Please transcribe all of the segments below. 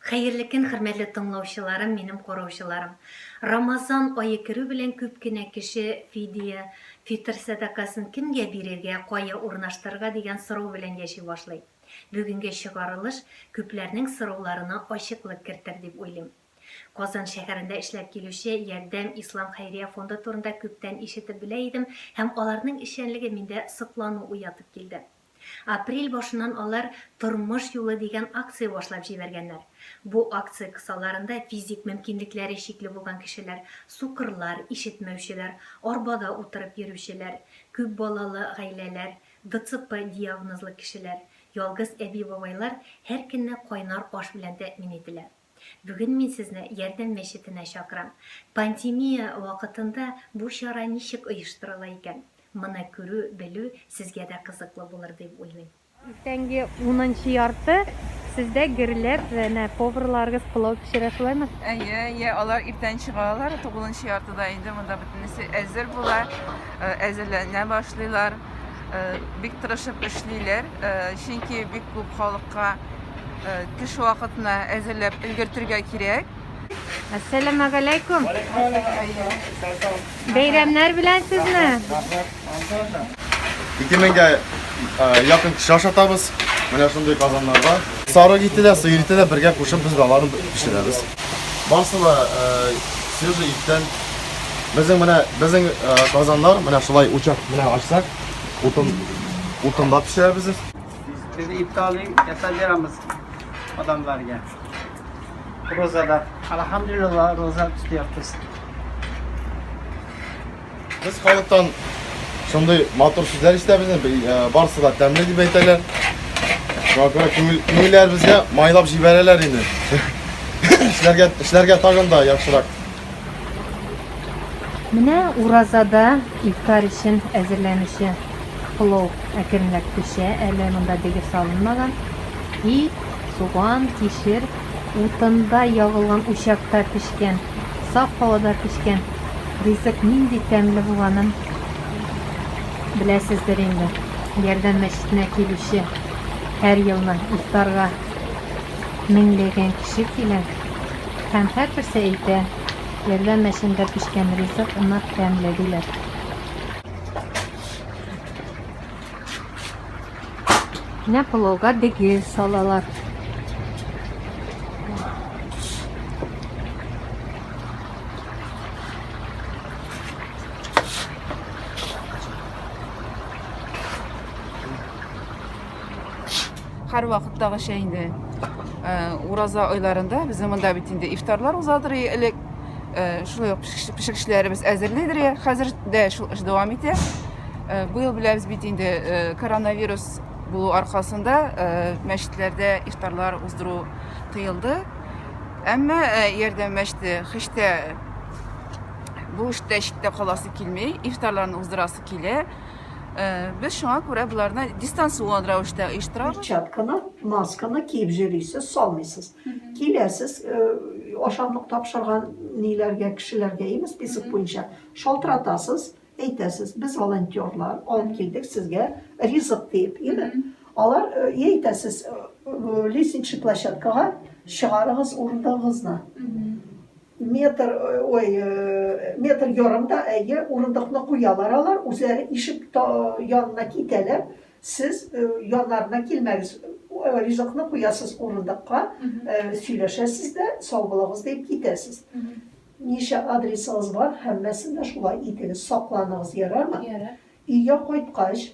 Хәерле көн хөрмәтле тыңлаучыларым, минем караучыларым. Рамазан ае керү белән күп кенә кеше фидия, фитыр сәдакасын кемгә бирергә, кая урнаштырырга дигән сорау белән яши башлый. Бүгенге чыгарылыш күпләрнең сорауларына ачыклык кертер дип уйлыйм. Казан шәһәрендә эшләп килүче Ярдәм ислам хәйрия фонды турында күптән ишетеп белә идем һәм аларның эшчәнлеге миндә соклану уятып килде. Апрель башыннан алар Тормыш юлы дигән акция башлап җибәргәннәр. Бу акция кысаларында физик мөмкинлекләре чикле булган кешеләр, сукырлар, ишетмәүчеләр, арбада утырып йөрүчеләр, күп балалы гаиләләр, ДЦП диагнозлы кешеләр, ялгыз әби-бабайлар һәркөнне кайнар аш белән тәэмин ителә. Бүген мин сезне Ярдәм мәчетенә чакырам. Пандемия вакытында бу чара ничек оештырыла икән? Моны күрү, белү сезгә дә кызыклы булыр дип уйлыйм. Иртәнге унынчы ярты сездә гөрләп әнә поварларыгыз пылау пешерә, шулаймы? Әйе, әйе, алар иртән чыгалар, тугызынчы яртыда инде монда бөтенесе әзер була, әзерләнә башлыйлар. бик тырышып эшлиләр, чөнки бик күп халыкка төш вакытына әзерләп өлгертергә кирәк. Әссәламә галәйкүм. Бәйрәмнәр белән сезне. Ике меңгә якын кеше ашатабыз. Менә шундый казаннарда. Сарык ите дә, сыер ите дә бергә кушып без балаларын пешерәбез. Барысы да свежий иттән Безнең менә безнең казаннар менә шулай учак менә ачсак, утын утында пешерәбез. Без ифтарны ясап бирәбез адамларга. Розада. Алхамдулилла, роза тотабыз. Без халыктан шундый матур сүзләр ишетәбез, барысы да тәмле дип әйтәләр. Шуңа күрә күңелләребезгә майлап җибәрәләр инде. Эшләргә эшләргә тагын да яхшырак. Менә уразада ифтар өчен әзерләнүче плов әкренләп пешә. Әле монда дегер салынмаган. Ит, суган, кишер, утында ягылган учакта пешкән, саф һавада пешкән ризык нинди тәмле булганын беләсездер инде. Ярдәм мәчетенә килүче һәр елны ифтарга меңләгән кеше килә. Һәм һәрберсе әйтә, ярдәм мәчендә пешкән ризык нык тәмле, диләр. Менә пылауга дегел салалар. Хәр вакыттагыча инде э, ураза айларында безнең монда бит инде ифтарлар узадыр элек. Э, шулай ук пешекчеләребез әзерлидер я. Хәзер дә шул эш дәвам итә. Э, быел беләбез бит инде коронавирус булу аркасында мәчетләрдә ифтарлар уздыру тыелды. Әмма ярдәм мәчете хиштә бу эштә читтә каласы килми, ифтарларны уздырасы килә. Без шуңа күрә боларны дистанцион рәвештә оештырабыз. Перчатканы, масканы киеп йөрисез, салмыйсыз. Киләсез, ашамлык тапшырган ниләргә, кешеләргә ими список буенча шалтыратасыз, әйтәсез, без волонтерлар, алып килдек сезгә ризык диеп, ими. Алар әйтәсез, лестничный площадкага чыгарыгыз урындыгыгызны. Метр, ой, метр ярым да, әйе, урындыкны куялар алар, үзләре ишек янына китәләр, сез яннарына килмәгез, ризыкны куясыз урындыкка, сөйләшәсез дә, сау булыгыз дип китәсез. Ничә адресыгыз бар, һәммәсен дә шулай итегез, сакланыгыз, ярармы? Ярар. Өйгә кайткач,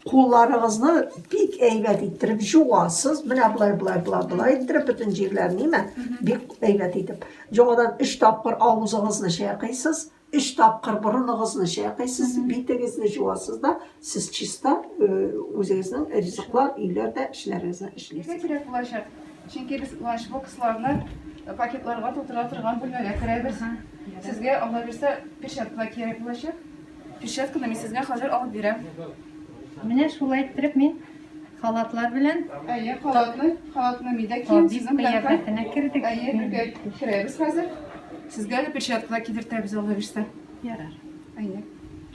Кулларыгызны бик әйбәт иттереп җуасыз. Менә болай, болай, болай, болай иттереп бөтен җирләрен, ниме? Бик әйбәт итеп. Җоңадан өч тапкыр авызыгызны чайкыйсыз, өч тапкыр борыныгызны чайкыйсыз, битегезне җуасыз да, сез чиста үзегезнең ризыклар, өйләрдә эшләрегезне эшлисез. Нигә кирәк булачак? Чөнки без ланчбоксларны пакетларга тутыра торган бүлмәгә керәбез. Сезгә, Алла бирсә, перчаткалар кирәк булачак. Перчатканы мин сезгә хәзер алып бирәм. Менә шулай иттереп мин халатлар белән Әйе, халатны, халатны мидә кием сезнең белән кыяфәтенә кердек. Әйе, бергә керәбез хәзер. Сезгә дә перчаткалар кидертәбез алла бирсә. Ярар. Әйе.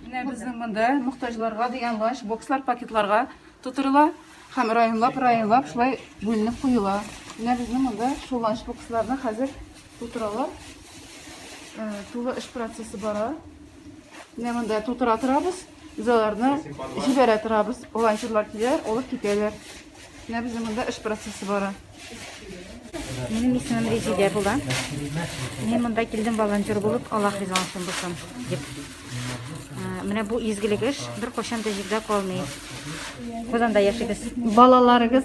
Менә безнең монда мохтаҗларга дигән ланч бокслар пакетларга тутырыла һәм районлап районлап шулай бүленеп куела. Менә безнең монда шул ланч боксларны хәзер тутыралар. Э, тулы эш процессы бара. Менә монда тутыра торабыз. Без аларны җибәрә торабыз. Волонтерлар киләләр, алып китәләр. Менә безнең монда эш процессы бара. Минем исемем Резидә була. Мин монда килдем волонтер булып, Аллах риза булсын булсын дип. Ә, Менә бу изгелек эш бер кайчан да җирдә калмый. Казанда яшибез. Балаларыгыз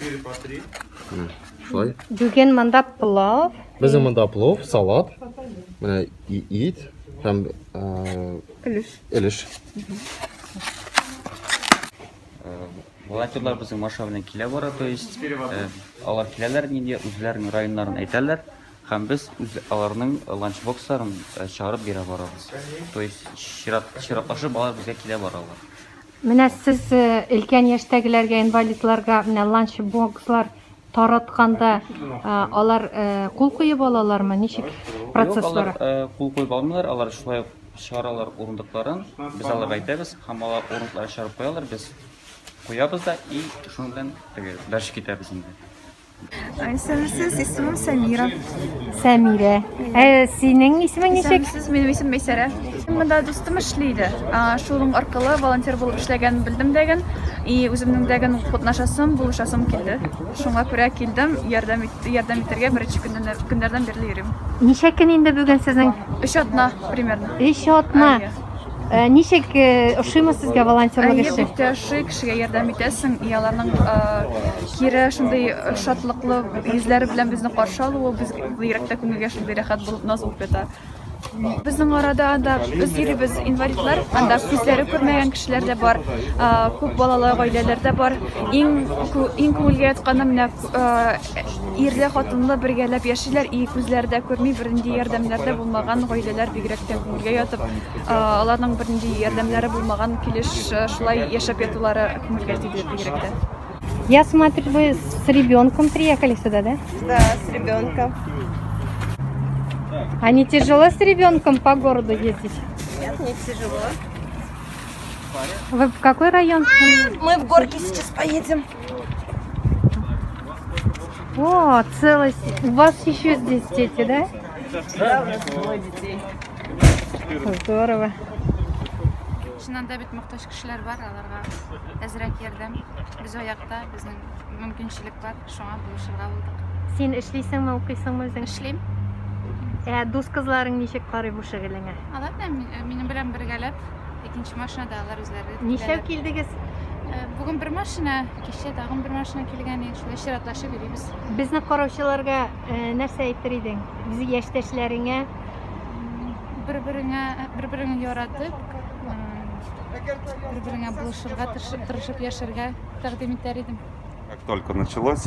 4 по 3. Шулай. Бүген монда плов. Безнең монда плов, салат, менә ит һәм өлеш. Өлеш. Волонтерлар безнең Маша белән килә бара, то есть алар киләләр нигә үзләренең районнарын әйтәләр һәм без үз аларның ланчбоксларын чыгарып бирә барабыз. То есть чират чиратлашып алар безгә килә баралар. Менә сез өлкән яшьтәгеләргә, инвалидларга менә ланч бокслар таратканда, алар кул куеп алалармы? Ничек процесс бара? Юк, алар кул куеп алмыйлар, алар шулай ук чыгаралар урындыкларын, без аларга әйтәбез һәм алар урындыкларын чыгарып куялар, без куябыз да и шуның белән теге дальше китәбез инде. Исемсез, исемем Сәмира. Сәмирә. Ә синең исемең ничек? Исемсез, минем исем Мәйсәрә. Монда дустым эшли иде. Шуның аркылы волонтер булып эшләгәнен белдем дәген. И үземнең дәген катнашасым, булышасым килде. Шуңа күрә килдем, ярдәм итте, ярдәм итәргә беренче көннәрдән бирле йөрим. Ничә көн инде бүген сезнең? Өч атна примерно. Өч атна. Э, ничек э, ошыймы сезгә волонтерлык эше? Әйе, бик тә ошый, кешегә ярдәм итәсең, и аларның э, кире шундый шатлыклы йөзләре белән безне каршы алуы без йөрәктә күңелгә шундый рәхәт булып наз булып ята. Безнең арада анда без йөрибез инвалидлар, анда күзләре күрмәгән кешеләр дә бар, күп балалы гаиләләр дә бар. Иң иң күңелгә ятканы менә Ирле, хатынлы бергәләп яшиләр, и күзләре дә күрми, бернинди ярдәмнәр дә булмаган гаиләләр бигрәк тә күңелгә ятып, аларның бернинди ярдәмнәре булмаган килеш шулай яшәп ятулары күңелгә тиде бигрәк тә. Я смотрю, вы с ребенком приехали сюда, да? Да, с ребенком. А не тяжело с ребенком по городу ездить? Нет, не тяжело. Вы в какой район? Мы в горки сейчас поедем. О, целость. У вас еще здесь дети, да? Да, у нас двое детей. Здорово. Чыннан да бит мохтаҗ кешеләр бар, аларга әзрәк ярдәм. Без аякта, безнең мөмкинчелек бар, шуңа булышырга булдык. Син эшлисеңме, укыйсыңмы үзең? Эшлим. Ә дус кызларың ничек карый бу шөгылеңә? Алар да минем белән бергәләп Икенче машинада алар үзләре Ничәү килдегез? Э, Бүген бер машина, кичә тагын бер машина килгән иде. Шулай чиратлашып йөрибез. Безне караучыларга э, нәрсә әйтер идең? Үз яшьтәшләреңә бер-береңә бер-береңне яратып, бер-береңә булышырга, тырышып яшәргә тәкъдим итәр идем. Как только началось,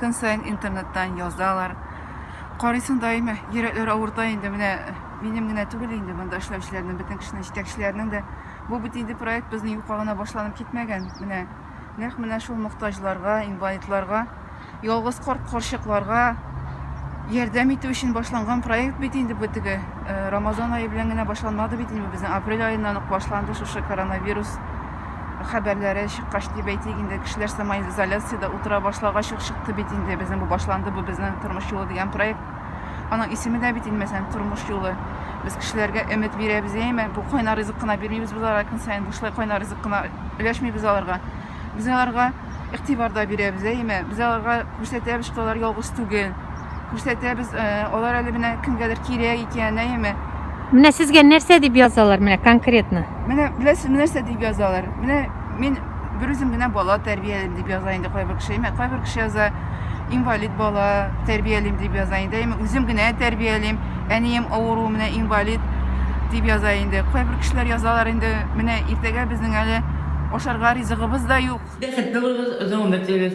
Көн саен интернеттан язалар. Карыйсың даими, йөрәкләр авырта инде. Менә минем генә түгел инде монда эшләүчеләрнең, бөтен кешенең җитәкчеләрнең дә. Бу бит инде проект безнең юкка гына башланып китмәгән. Менә нәкъ менә шул мохтаҗларга, инвалидларга, ялгыз корт корчыкларга ярдәм итү өчен башланган проект бит инде бу теге э, Рамазан айы белән генә башланмады бит инде безнең апрель аеннан ук башланды шушы коронавирус хәбәрләре чыккач дип әйтик инде кешеләр самоизоляциядә утыра башлагач ук чыкты бит инде безнең бу башланды бу безнең тормыш юлы дигән проект аның исеме дә бит инмәсән тормыш юлы без кешеләргә өмет бирәбез яме бу кайнар ризык кына бирмибез без аларга көн саен бушлай кайнар ризык кына өләшмибез аларга без аларга игътибар да бирәбез яме без аларга күрсәтәбез что алар ялгыз түгел Күрсәтәбез, э, алар әле менә кемгәдер кирәк икән, әйеме? Менә сезгә нәрсә дип язалар, менә конкретно? Менә беләсезме нәрсә дип язалар? Менә мин бер үзем генә бала тәрбиялим дип яза инде кайбер кеше. Әмма кайбер кеше яза инвалид бала тәрбиялим дип яза инде. Әмма үзем генә тәрбиялим. Әнием авыру, менә инвалид дип яза инде. Кайбер кешеләр язалар инде, менә иртәгә безнең әле ашарга ризыгыбыз да юк. Бәхетле булыгыз, озын гомер телибез.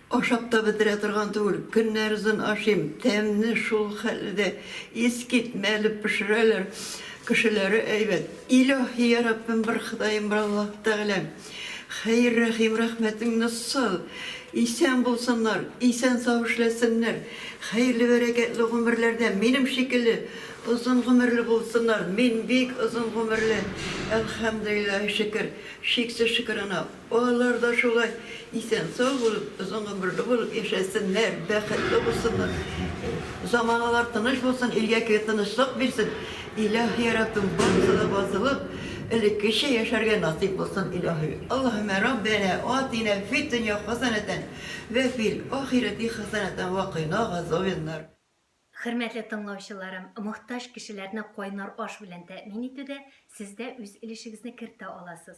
Ашап та бетерә торган түгел, көннәр озын ашыйм, тәмне шул хәлле дә искитмәле пешерәләр, кешеләре әйбәт. Илаһи яраббем бер ходаем бар Аллаһ тәгалә, хәер рәхим рәхмәтеңне сал, исән булсыннар, исән сау эшләсеннәр, хәерле бәрәкәтле гомерләрдә минем шикелле озын гомерле булсыннар, мин бик озын гомерле, әлхәмдүлилләһи шөкер, чиксез шөкер ана. Балалар да шулай исән-сау булып, озын гомерле булып яшәсеннәр, бәхетле булсыннар. Заманалар тыныч булсын, илгә көе тынычлык бирсен. Илаһи Раббем барысы да бозылып, элеккечә яшәргә насыйп булсын, Илаһи. Аллаһуммә Раббәнә атинә фиддөнья хасанәтән вә фил ахирәти хасанәтән вә кыйна газабеннар. Хөрмәтле тыңлаучыларым, мохтаҗ кешеләрне кайнар аш белән тәэмин итүдә сез дә үз өлешегезне кертә аласыз.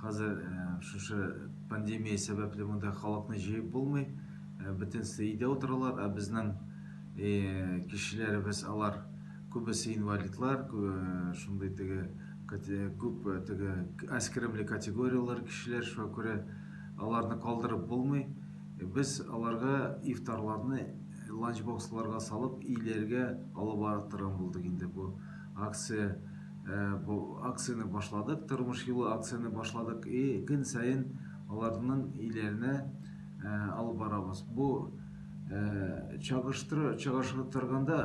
Хәзер шушы пандемия сәбәпле монда халыкны җыеп булмый. Бөтенесе өйдә утыралар, ә безнең кешеләребез алар күбесе инвалидлар, шундый теге күп теге аз керемле категорияләр кешеләр, шуңа күрә аларны калдырып булмый. Без аларга ифтарларны ланчбоксларга салып, өйләргә алып барып торган булдык инде бу. Акция бу акцияне башладык тормыш юлы акцияне башладык и көн саен аларның өйләренә алып барабыз бу чагыштыру чагыштыру торганда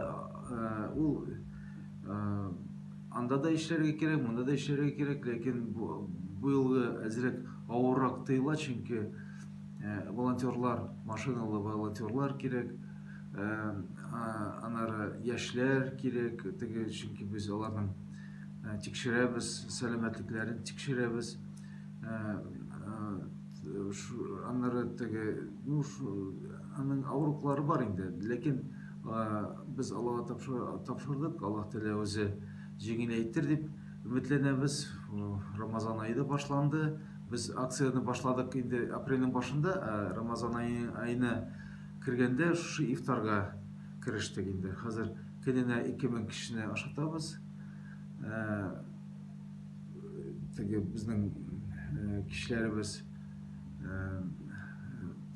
ул анда да эшләргә кирәк монда да эшләргә кирәк ләкин бу бу елгы әзрәк авыррак тоела чөнки волонтерлар машиналы волонтерлар кирәк Ә, а, анары яшьләр кирәк, теге, чөнки без аларның ә, тикшерәбез, сәламәтлекләрен тикшерәбез. Ә, а, шу, анары теге, ну, шу, аның авыруклары бар инде, ләкин без Аллаһка тапшырдык, Аллаһ Тәгалә үзе җиңеләйтер дип өметләнәбез. Рамазан айы да башланды. Без акцияне башладык инде апрельнең башында, ә Рамазан айы айны Кергәндә шушы ифтарга керештек инде. Хәзер көненә 2000 кешене ашатабыз. Ә, теге безнең ә, кешеләребез ә,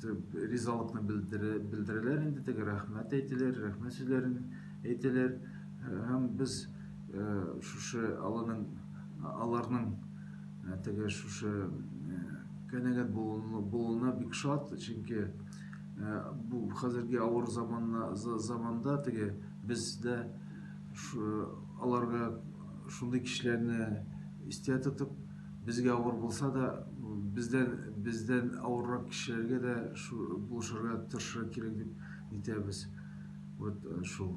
ризалыкны белдерәләр инде, теге рәхмәт әйтәләр, рәхмәт сүзләрен әйтәләр. Һәм без ә, шушы алының аларның ә, теге шушы ә, канәгать булуына бик шат, чөнки Ә, бу хәзерге авыр заманна, заманда теге бездә аларга шундый кешеләрне истә тотып, безгә авыр булса да, бездән бездән авыррак кешеләргә дә булышырга тырышырга кирәк дип әйтәбез. Вот э, шул.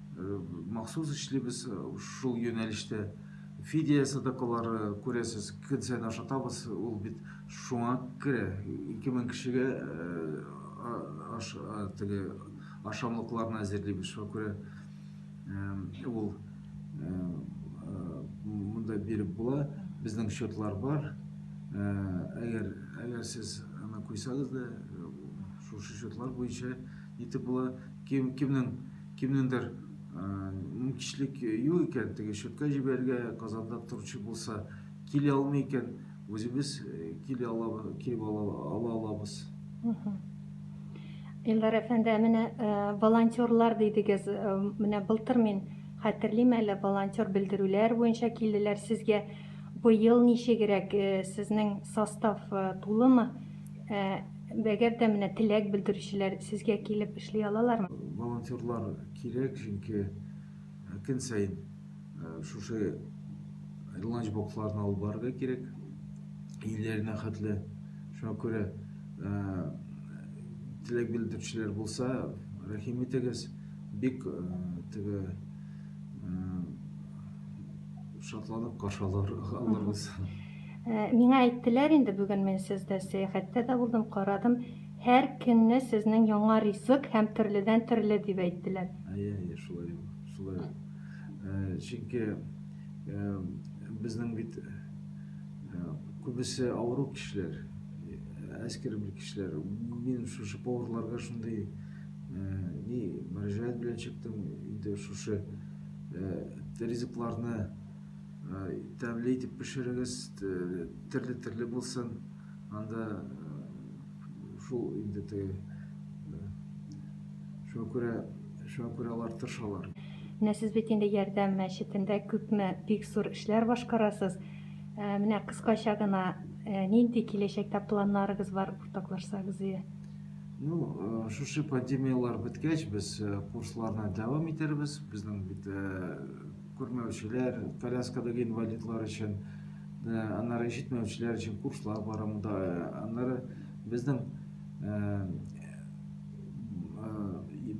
Махсус эшлибез шул юнәлештә. Фидия садакалары, күрәсез, көн саен ашатабыз, ул бит шуңа керә. Ике мең кешегә теге ашамлыкларны әзерлибез, шуңа күрә ул монда биреп була. Безнең счетлар бар. Әгәр әгәр сез аны куйсагыз да, шушы счетлар буенча итеп була. Кем кемнең Кемнеңдер мөмкичлек юк икән, теге шөккә җибәрергә, Казанда торучы булса, кили алмый икән, үзебез кили ала, килеп ала, ала алабыз. Илдар әфәнде, менә волонтерлар дидегез, менә былтыр мин хәтерлим әле, волонтер белдерүләр буенча килделәр сезгә. Быел ничегрәк сезнең состав тулымы? Әгәр дә менә теләк белдерүчеләр сезгә килеп эшли алалармы? Волонтерлар кирәк, чөнки э, көн саен э, шушы ланчбокларны алып барырга кирәк, өйләренә хәтле. Шуңа күрә э, теләк белдерүчеләр булса, рәхим итегез, бик теге шатланып каршы алырбыз. Э, миңа әйттеләр инде бүген мин сездә сәяхәттә дә булдым, карадым. Һәр көнне сезнең яңа ризык һәм төрледән төрле дип әйттеләр. Әйе, әйе, шулай ул. Шулай ул. Э, чөнки э, безнең бит күбесе авыру кешеләр, әскер бер кешеләр. Мин шушы поварларга шундый ни мөрәҗәгать белән чыктым. Инде шушы ризыкларны тәмле итеп пешерегез, терле-терле булсын. Анда шул инде теге шуңа күрә шуңа күрә алар тырышалар. Менә сез бит инде ярдәм мәчетендә күпме бик зур эшләр башкарасыз. Менә кыскача гына нинди киләчәктә планнарыгыз бар уртаклашсагыз иде. Ну, шушы пандемияләр беткәч, без курсларны дәвам итәрбез. Безнең бит Күрмәүчеләр, коляскадагы инвалидлар өчен, аннары ишетмәүчеләр өчен курслар бара монда. Аннары безнең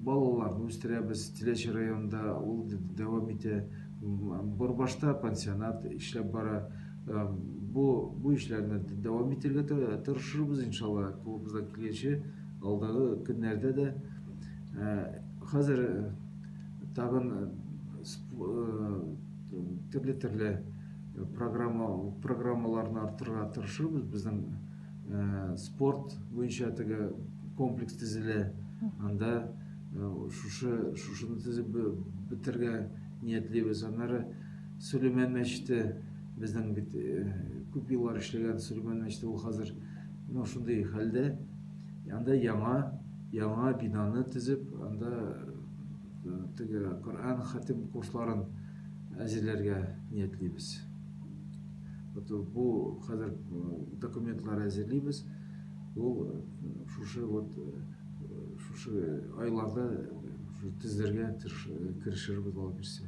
балаларны үстерәбез Теләч районында, ул дәвам итә. Борбашта пансионат эшләп бара. Бу бу эшләрне дәвам итәргә тырышырбыз, иншалла, кулыбыздан килгәнчә алдагы көннәрдә дә. Хәзер тагын төрле-төрле программа, программаларны артырга тырышырбыз. Безнең спорт буенча теге комплекс төзелә. Анда шушы шушыны төзеп бетергә ниятлибез. Аннары Сөләйман мәчете безнең бит күп еллар эшләгән Сөләйман мәчете ул хәзер ну шундый хәлдә. Анда яңа яңа бинаны төзеп, анда э, теге Коръән хатим курсларын әзерләргә ниятлибез. Вот бу хәзер э, документлар әзерлибез. Ул э, шушы вот шушы айларда тезләргә керешербез алып бирсә.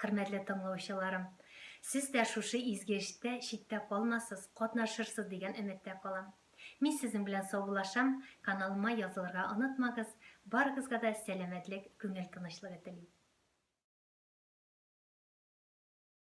Хөрмәтле тыңлаучыларым! Сез дә шушы изге эштә читтә калмасыз, катнашырсыз дигән өметтә калам. Мин сезнең белән саубулашам, каналыма язылырга онытмагыз, барыгызга да сәламәтлек, күңел тынычлыгы телим.